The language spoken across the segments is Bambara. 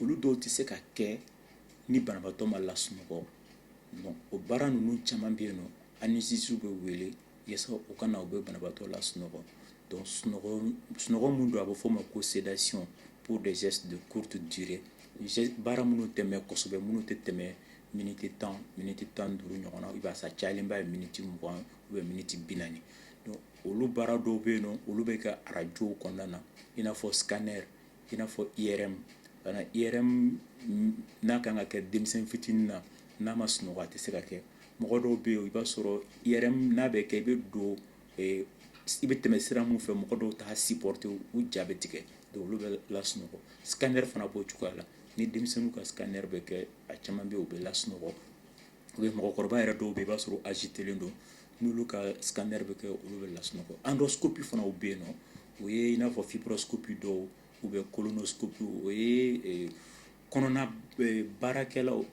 olu dɔw tɛ se ka kɛ ni banabaatɔ ma lasunɔgɔ bon o baara ninnu caman bɛ yen nɔ anesthésie bɛ wele yasa u ka na u bɛ banabaatɔ lasunɔgɔ donc sunɔgɔ sunɔgɔ min don a bɛ f'o ma ko sédation pour des gestes de courte durée baara minnu tɛ mɛɛn kosɛbɛ minnu tɛ tɛmɛ miniti tan miniti tan ni duuru ɲɔgɔn na i b'a sɔr'a cayalenba ye miniti mugan ou bien miniti bi naani donc olu baara dɔw bɛ yen nɔ olu bɛ kɛ arajow kɔnɔna na i n'a fɔ scanner i n'a fɔ IRM bon IRM n'a kan ka kɛ denmisɛn fitinin na n'a ma sunɔgɔ a tɛ se ka kɛ mɔgɔ dɔw bɛ yen i b'a sɔrɔ IRM n'a bɛ kɛ i bɛ don i bɛ tɛmɛ sira min fɛ mɔgɔ dɔw t'a supporter u ja bɛ tigɛ donc olu bɛ lasunɔgɔ scanner fana b'o cogoya la ni denmisɛnninw ka scanner bɛ kɛ a caman bɛ yen u bɛ lasunɔgɔ u ye mɔgɔkɔrɔba yɛrɛ dɔw bɛ i b'a sɔrɔ agitélen don n'olu ka scanner bɛ kɛ olu bɛ lasunɔgɔ endoscopie fana bɛ yen nɔ o ye i n'a fɔ fibroscopie don ou bien colonoscopie o ye kɔnɔna baarakɛlaw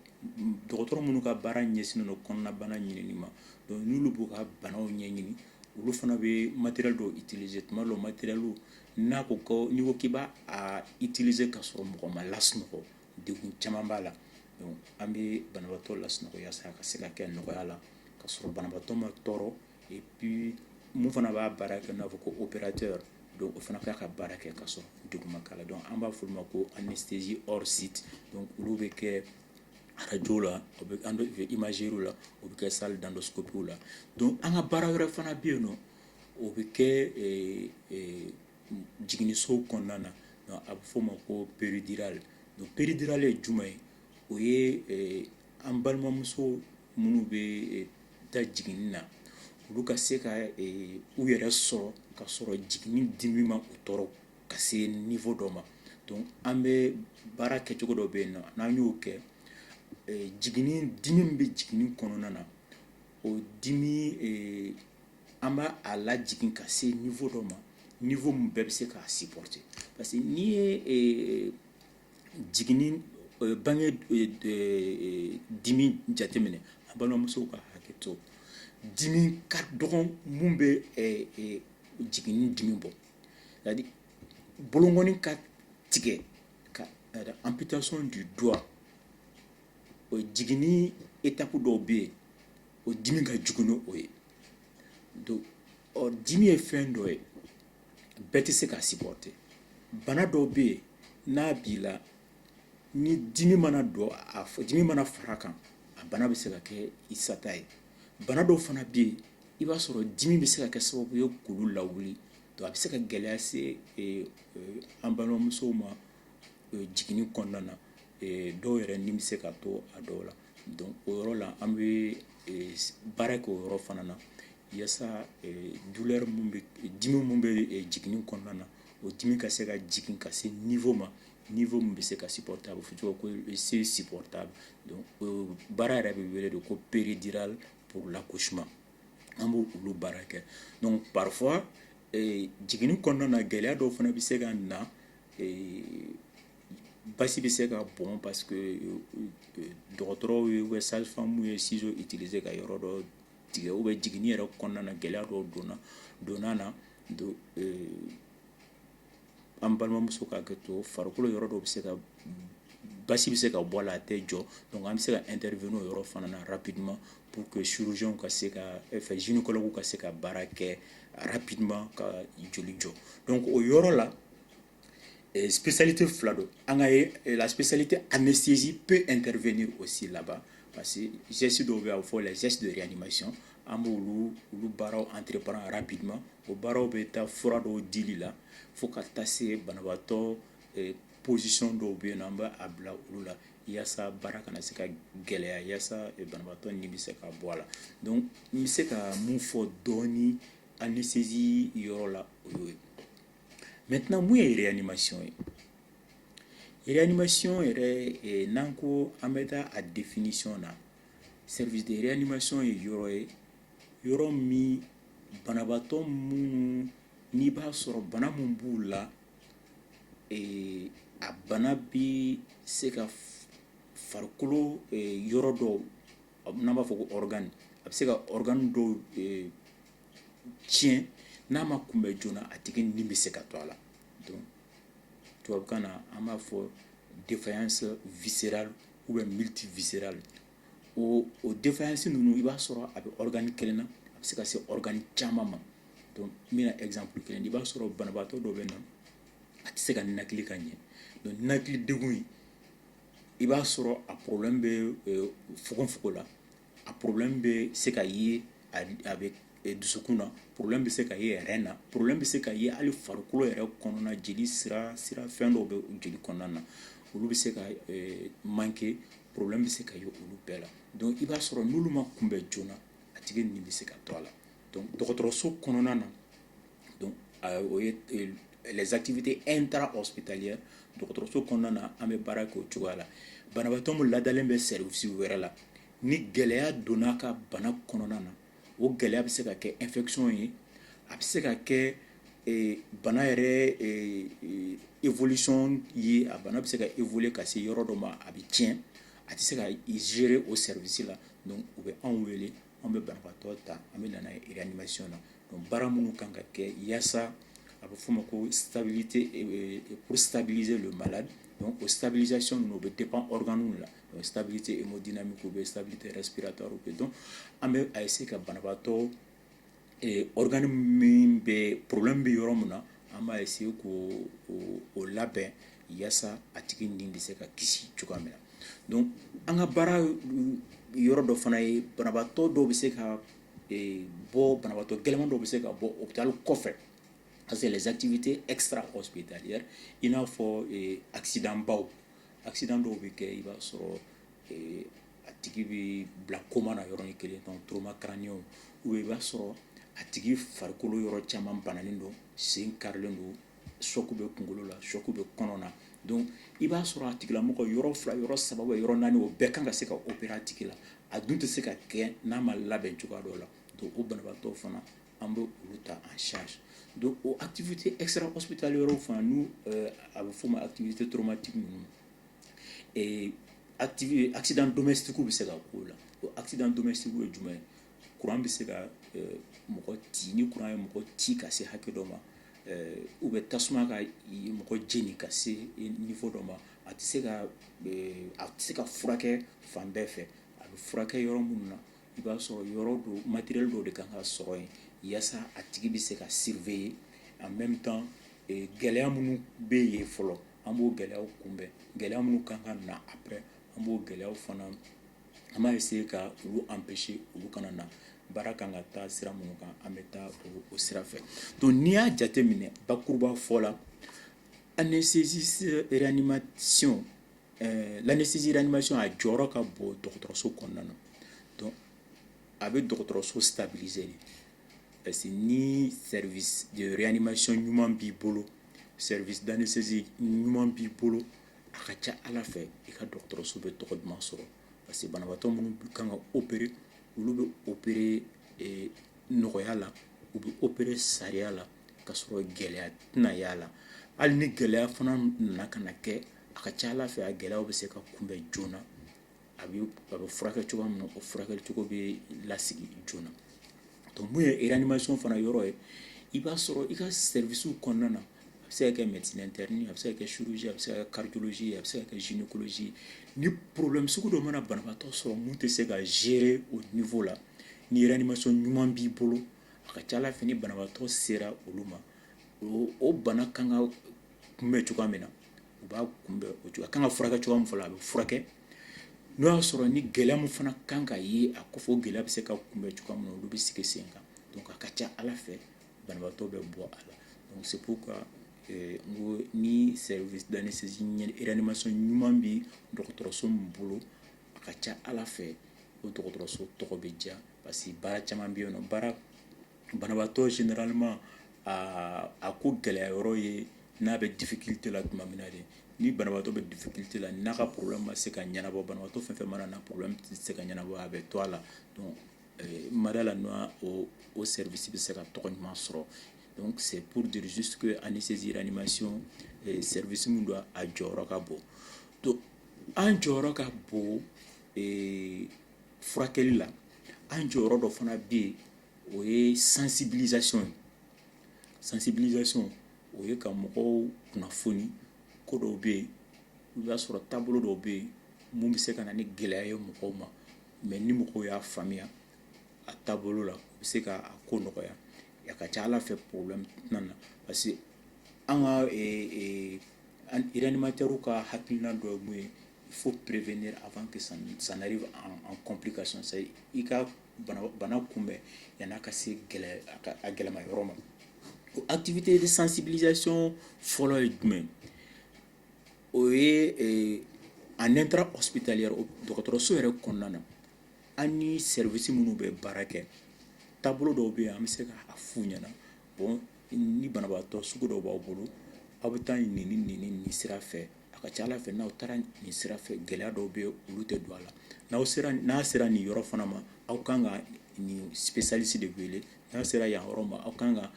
dɔgɔtɔrɔ minnu ka baara ɲɛsinnen don kɔnɔnabana ɲini ma donc n'olu b'u ka banaw ɲɛ ɲini olu fana bɛ matériel dɔw utiliser tuma dɔw matériel n'a ko ko n'i ko k'i b'a utiliser ka sɔrɔ mɔgɔ ma lasunɔgɔ degun caman b'a la an bɛ banabagatɔ lasunɔgɔ yasa a ka se ka kɛ nɔgɔya la ka sɔrɔ banabagatɔ ma tɔɔrɔ et puis min fana b'a baara kɛ n'a fɔ ko opérateur don o fana k'a ka baara kɛ ka sɔrɔ degun ma k'a la donc an b'a f'olu ma ko anesthésie hors site donc olu bɛ kɛ arajo la imagerie la o bɛ kɛ salle d'endoscopie la donc an ka baara wɛrɛ fana bɛ yen nɔ o bɛ kɛ jiginiso kɔnɔna na donc a bɛ f'o ma ko péridurale donc péridurale ye juma ye o ye an balimamuso minnu bɛ taa jigin na olu ka se ka u yɛrɛ sɔrɔ ka sɔrɔ jigin dimi ma u tɔɔrɔ ka se niveau dɔ ma donc an bɛ baara kɛcogo dɔ bɛ yen na n'an y'o kɛ jigin dimi min bɛ jigin kɔnɔna na o dimi an b'a lajigin ka se niveau dɔ ma niveau min bɛɛ bɛ se k'a supporter parce que n'i ye jigin bange dimi jateminɛ an balimamusow ka hakɛ to dimi ka dɔgɔn min bɛ jigin dimi bɔ c'est-à-dire bolokɔni ka tigɛ amputation du doigt jigin étape dɔw bɛ yen o dimi ka jugu ni o ye donc ɔ dimi ye fɛn dɔ ye bɛɛ tɛ se k'a supporter bana dɔw bɛ yen n'a b'i la ni dimi mana don a dimi mana fara kan a bana bɛ se ka kɛ i sata ye bana dɔw fana bɛ yen i b'a sɔrɔ dimi bɛ se ka kɛ sababu ye k'olu lawuli donc a bɛ se ka gɛlɛya se eh, eh, an balimamusow ma eh, jiginni kɔnɔna na dɔw yɛrɛ ni bɛ se ka to a dɔw la donc o yɔrɔ la an bɛ eh, baara kɛ o yɔrɔ fana na yasa eh, douleur min bɛ dimi min bɛ eh, jiginni kɔnɔna na o dimi ka se ka jigin ka se niveau ma niveau min bɛ se ka supportable fo cogo ko c'est supportable donc baara yɛrɛ bɛ wele de ko péridurale pour l'accouchement an bɛ olu baara kɛ donc parfois jiginni kɔnɔna na gɛlɛya dɔw fana bɛ se ka na basi bɛ se ka bɔn parce que euh, euh, dɔgɔtɔrɔw ye ou bien sage-femme ye ciseaux utiliser ka yɔrɔ dɔ tigɛ ou bien jiginni yɛrɛ kɔnɔna na gɛlɛya dɔw donna donna na do euh, an balimamuso ka kɛ to farikolo yɔrɔ dɔw bɛ se ka basi bɛ se ka bɔ a la a tɛ jɔ donc an bɛ se ka intervenir o yɔrɔ fana na rapidement pour que chirurgien ka se ka fɛ gynécologue ka se ka baara kɛ rapidement ka joli jɔ donc o yɔrɔ la Psali tɛ fila don an ka lasali tɛ an bɛ sinzsi pe ntɛnfɛn o si laban parce que zsi dɔw bɛ' fɔ la zsi don yan ni ma sɔn an b' olu olu baaraw an tirep ara bi ma o baaraw bɛ taa fura dɔw di la fo ka taa se banabaatɔ psisi dɔw bɛ yen na an bɛ a bila olu la walasasa baara kana se ka gɛlɛya walasasa banabaatɔ ni bɛ se ka bɔ a la n bɛ se ka mun fɔ dɔɔnin an ni sinzsi yɔrɔ la o ye Maintenant mun ye réanimation ye réanimation yɛrɛ eh, n'an ko an bɛ taa a définition na service de réanimation ye yɔrɔ ye yɔrɔ min banabaatɔ minnu n'i b'a sɔrɔ bana mun b'u la eh, a bana bi se ka farikolo eh, yɔrɔ dɔw n'an b'a fɔ ko organe a bɛ se ka organe dɔw tiɲɛ n'a ma kunbɛn joona a tigi ni bɛ se ka to a la donc tubabukan na an b'a fɔ défaillance viscérale ou bien multiviscérale o o défaillance ninnu i b'a sɔrɔ a bɛ organe kelen na a bɛ se ka se organe caman ma donc n bɛna exemple kelen di i b'a sɔrɔ banabaatɔ dɔ bɛ na a tɛ se ka ninakili ka ɲɛ donc ninakili degun in i b'a sɔrɔ a problème bɛ euh, fogonfogon la a problème bɛ se ka ye a bɛ dusukun na problème bɛ se ka ye rein na problème bɛ se ka ye hali farikolo yɛrɛ kɔnɔna jeli sira sira fɛn dɔw bɛ jeli kɔnɔna na olu bɛ se ka manquer problème bɛ se ka ye olu bɛɛ la donc i b'a sɔrɔ n'olu ma kunbɛn joona a tigi ni bɛ se ka to a la dɔgɔtɔrɔso kɔnɔna na o ye les activités intrahospitalières dɔgɔtɔrɔso kɔnɔna na an bɛ baara kɛ o cogoya la banabaatɔ min ladalen bɛ service wɛrɛ la ni gɛlɛya donna a ka bana kɔnɔna na o gɛlɛya bɛ se ka kɛ infection ye a bɛ se ka kɛ bana yɛrɛ évolution ye a bana bɛ se ka évoluer ka se yɔrɔ dɔ ma a bɛ tiɲɛ a tɛ se ka gérer o service la donc u bɛ anw wele An bɛ bantɔ ta an bɛ nana i ni masiy na baara minnu kan ka kɛ yaasa a bɛ f' ma ko tabi p tabibilize don ba la ko tabilizsi ninnu u bɛ de pan k la tabi tɛ mɔ dina min u bɛ tabi tɛ sira ta u bɛ dɔn an bɛ a ye se ka banabaatɔ Organe min bɛ problème bɛ yɔrɔ min na an b'a essayer k'o labɛn yaasa a tigi nin bɛ se ka kisi cogoya min na donc an ka baara yɔrɔ dɔ fana ye banabagatɔ dɔw bɛ se ka bɔ banabagatɔ gɛlɛnman dɔw bɛ se ka bɔ hôpital kɔfɛ parce que les activités extrahospitalières i n'a fɔ accident baw accident dɔw bɛ kɛ i b'a sɔrɔ a tigi bɛ bila coma na yɔrɔnin kelen donc trauma crânien ou bien i b'a sɔrɔ a tigi farikolo yɔrɔ caman bananen don sen karilen don choc bɛ kunkolo la choc bɛ kɔnɔna na donc i b'a sɔrɔ a tigilamɔgɔ yɔrɔ fila yɔrɔ saba yɔrɔ naani o bɛɛ kan ka se ka opérer a tigi la a dun tɛ se ka kɛ n'a ma labɛn cogoya dɔ la donc o banabagatɔ fana an bɛ olu ta en charge donc o activité extrahospitalière fana n' a bɛ f'o ma activité traumatique ninnu ee activité accident domestique w bɛ se ka k'o la o accident domestique w ye jumɛn ye courant bɛ se ka euh, mɔgɔ ci ni courant ye mɔgɔ ci ka se hakɛ dɔ ma euh, ou bien tasuma ka i- mɔgɔ jeni ka se i- niveau dɔ ma a tɛ se ka euh, a tɛ se ka furakɛ fan bɛɛ fɛ a bɛ furakɛ yɔrɔ minnu na i b'a sɔrɔ yɔrɔ don matériel dɔw de ka kan ka sɔrɔ yen yasa a tigi bɛ se ka surveiller en même temps gɛlɛya minnu bɛ yen fɔlɔ an b'o gɛlɛyaw kunbɛn gɛlɛya minnu ka kan ka na après an b'o gɛlɛyaw fana an b'a essayer ka olu empêcher olu kana na baara kan ka taa sira minnu kan an bɛ taa o sira fɛ donc n'i y'a jateminɛ bakuruba fɔ la anesthésie réanimation eh, l'anesthésie réanimation a jɔyɔrɔ ka bon dɔgɔtɔrɔso kɔnɔna na donc a bɛ dɔgɔtɔrɔso stabiliser de parce que ni service de réanimation ɲuman b'i bolo service d'anesthésie ɲuman b'i bolo a ka ca a la fɛ i ka dɔgɔtɔrɔso bɛ tɔgɔ duman sɔrɔ parce que banabaatɔ minnu kan ka opérer olu bɛ opérer eh, nɔgɔya la u bɛ opérer sariya la ka sɔrɔ gɛlɛya tɛna y'a la hali ni gɛlɛya fana nana ka na kɛ a ka ca a la fɛ a gɛlɛya bɛ se ka kunbɛn joona a bɛ a bɛ furakɛ cogoya min o furakɛ cogo bɛ lasigi joona donc o ye réanimation fana yɔrɔ ye i b'a sɔrɔ i ka service kɔnɔna na a bɛ se ka kɛ médecine a bɛ se ka kɛ chirurgie a bɛ se ka cardiologie a bɛ se ka kɛ gynécologie ni problème sugu dɔ mana banabagatɔ sɔrɔ min tɛ se ka gérer o niveau la ni réanimation ɲuman b'i bolo a ka ca a la fɛ ni banabagatɔ sera olu ma o bana kan ka kunbɛn cogoya min na u b'a kunbɛn o cogo a kan ka furakɛ cogoya min fɔlɔ a bɛ furakɛ n'o y'a sɔrɔ ni gɛlɛya min fana kan ka ye a kɔfɛ gɛlɛya bɛ se ka kunbɛn cogoya min na olu bɛ sigi sen kan donc a ka ca a la fɛ banabaatɔ bɛ bɔ a la donc c'est pourquoi euh, n ko ni service d'anesthésie réanimation ɲuman bɛ dɔgɔtɔrɔso min bolo a ka ca a la fɛ o dɔgɔtɔrɔso tɔgɔ bɛ diya parce que baara caman bɛ yen nɔ baara banabaatɔ généralement aa a ko gɛlɛya yɔrɔ ye n'a bɛ difficulté la tuma min na de ni banabaatɔ bɛ difficulté la n'a ka problème ma se ka ɲɛnabɔ banabaatɔ fɛn fɛn mana na problème tɛ se ka ɲɛnabɔ a bɛ to a la donc euh, n ma da a la n'o o service bɛ se ka tɔgɔ ɲuman sɔrɔ donc c'est pour dire juste que anesthésie réanimation euh, service min don a jɔyɔrɔ ka bon donc an jɔyɔrɔ ka bon euh, furakɛli la an jɔyɔrɔ dɔ fana bɛ yen o ye sensibilisation ye sensibilisation o ye ka mɔgɔw kunnafoni ko dɔw bɛ yen i b'a sɔrɔ taabolo dɔw bɛ yen min bɛ se ka na ni gɛlɛya ye mɔgɔw ma mais ni mɔgɔw y'a faamuya a taabolo la u bɛ se ka a ko nɔgɔya a ka ca a la fɛ problème tɛna na parce que an ka réanimateurs ka hakilina dɔ ye mun ye il faut prévenir avant que ça n'arrive en complication c'est i ka bana kunbɛn yann'a ka se a gɛlɛma yɔrɔ ma o activité de sensibilisation fɔlɔ ye jumɛn o ye en intra hospitalière dɔgɔtɔrɔso yɛrɛ kɔnɔna na an ni service minnu bɛ baara kɛ taabolo dɔw bɛ yen an bɛ se k'a f'u ɲɛna bon ni banabaatɔ sugu dɔw b'aw bolo aw bɛ taa nin ni nin ni nin sira fɛ a ka ca a la fɛ n'aw taara nin sira fɛ gɛlɛya dɔw bɛ olu tɛ don a la n'aw sera n'a sera nin yɔrɔ fana ma aw kan ka nin spécialiste de wele n'a sera yan yɔrɔ ma aw kan ka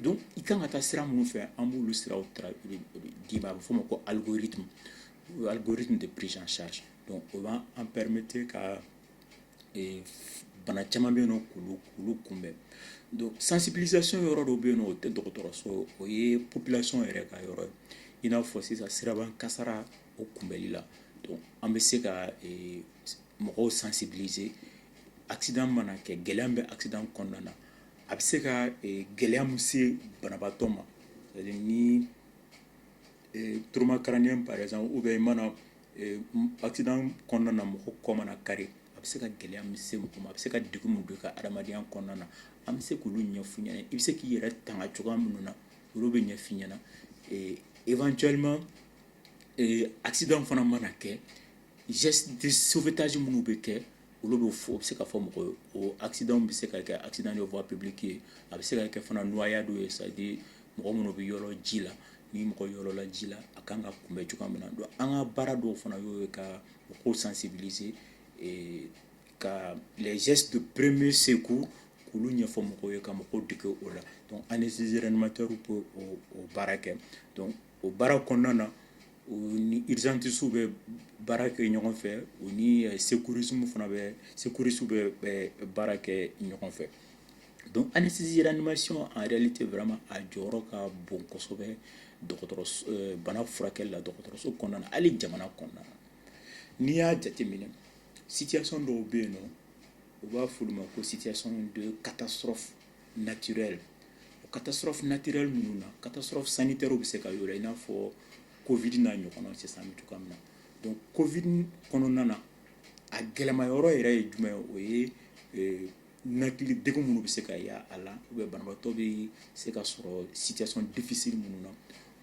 donc i kan ka taa sira minnu fɛ an b'olu sira di i ma a bɛ f'o ma ko algorithme algorithme de prise en charge o b'an an permettre ka bana caman bɛ yen k'olu kunbɛn donc sensibilisation yɔrɔ dɔ bɛ yen o tɛ dɔgɔtɔrɔso o ye population yɛrɛ ka yɔrɔ ye i n'a fɔ sisan siraba kasara o kunbɛli la donc an bɛ se ka mɔgɔw sensibiliser accident mana kɛ gɛlɛya min bɛ accident kɔnɔna na a bɛ se ka gɛlɛya min se banabaatɔ ma c'est-à-dire ni trauma crânien par exemple o bɛ mana accident kɔnɔna na mɔgɔ kɔ mana kari a bɛ se ka gɛlɛya min se mɔgɔ ma a bɛ se ka degun min don a ka adamadenya kɔnɔna na an bɛ se k'olu ɲɛfɔ u ɲɛna i bɛ se k'i yɛrɛ tanga cogoya minnu na olu bɛ ɲɛfɔ u ɲɛna éventuellement accident fana mana kɛ gestes de sauvetage minnu bɛ kɛ olu bɛ fɔ bɛ se ka fɔ mɔgɔw ye o accident bɛ se ka kɛ accident de voie publique ye a bɛ se ka kɛ fana noyade ye c'est-à-dire mɔgɔ minnu bɛ yɔrɔ ji la ni mɔgɔ yɔrɔla ji la a ka kan ka kunbɛn cogoya min na donc an ka baara dɔw fana y'o ye ka mɔgɔw sensibiliser ka les gestes de premier secours k'olu ɲɛfɔ mɔgɔw ye ka mɔgɔw dege o la donc anesthésiste réanimateur bɛ o baara kɛ o baara kɔnɔna na u ni urgentistes bɛ baara kɛ ɲɔgɔn fɛ u ni secouristes fana bɛ secouristes bɛ baara kɛ ɲɔgɔn fɛ donc anesthésie réanimation en réalité vraiment a jɔyɔrɔ ka bon kosɛbɛ dɔgɔtɔrɔso euh, bana furakɛli la dɔgɔtɔrɔso kɔnɔna na hali jamana kɔnɔna na n'i y'a jateminɛ situation dɔw bɛ yen nɔ u b'a f'olu ma ko situation de catastrophe nati o ka taa sɔrɔ natire ninnu na ka taa sɔrɔ sanu tɛ bɛ se ka yɔrɔ in n'a fɔ ko vd n'a ɲɔgɔn cɛ san cogoya min na don ko v kɔnɔna na a gɛlɛyama yɔrɔ yɛrɛ ye jumɛn o ye natiri de minnu bɛ se ka a la u bɛ bantɔ bɛ se ka sɔrɔ sison difisiri minnu na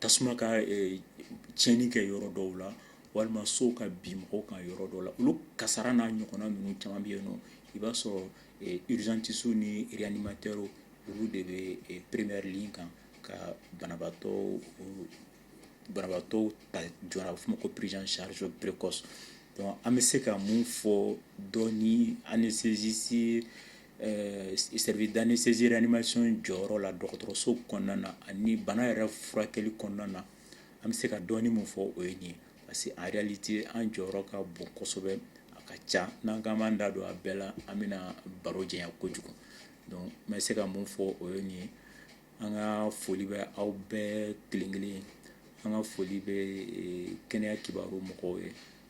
tasuma ka tiɲɛni kɛ yɔrɔ dɔw la walima sow ka bin mɔgɔw kan yɔrɔ dɔw la olu kasara n'a ɲɔgɔnna ninnu caman bɛ yen nɔ i b'a sɔrɔ urgentistew ni réanimateurw olu de bɛ première ligne kan ka banabaatɔ banabaatɔw ta joona a bɛ f'o ma ko prise en charge précoce donc an bɛ se ka mun fɔ donc anesthésie Ɛɛ service d'anesthésie réanimation jɔyɔrɔ la dɔgɔtɔrɔso kɔnɔna na ani bana yɛrɛ furakɛli kɔnɔna na an bɛ se ka dɔɔnin min fɔ o ye nin ye parce que en réalité an jɔyɔrɔ ka bon kosɛbɛ a ka ca n'an k'an b'an da don a bɛɛ la an bɛna baro janya kojugu donc n bɛ se ka min fɔ o ye nin ye an ka foli bɛ aw bɛɛ kelen kelen ye an ka foli bɛ kɛnɛya kibaru mɔgɔw ye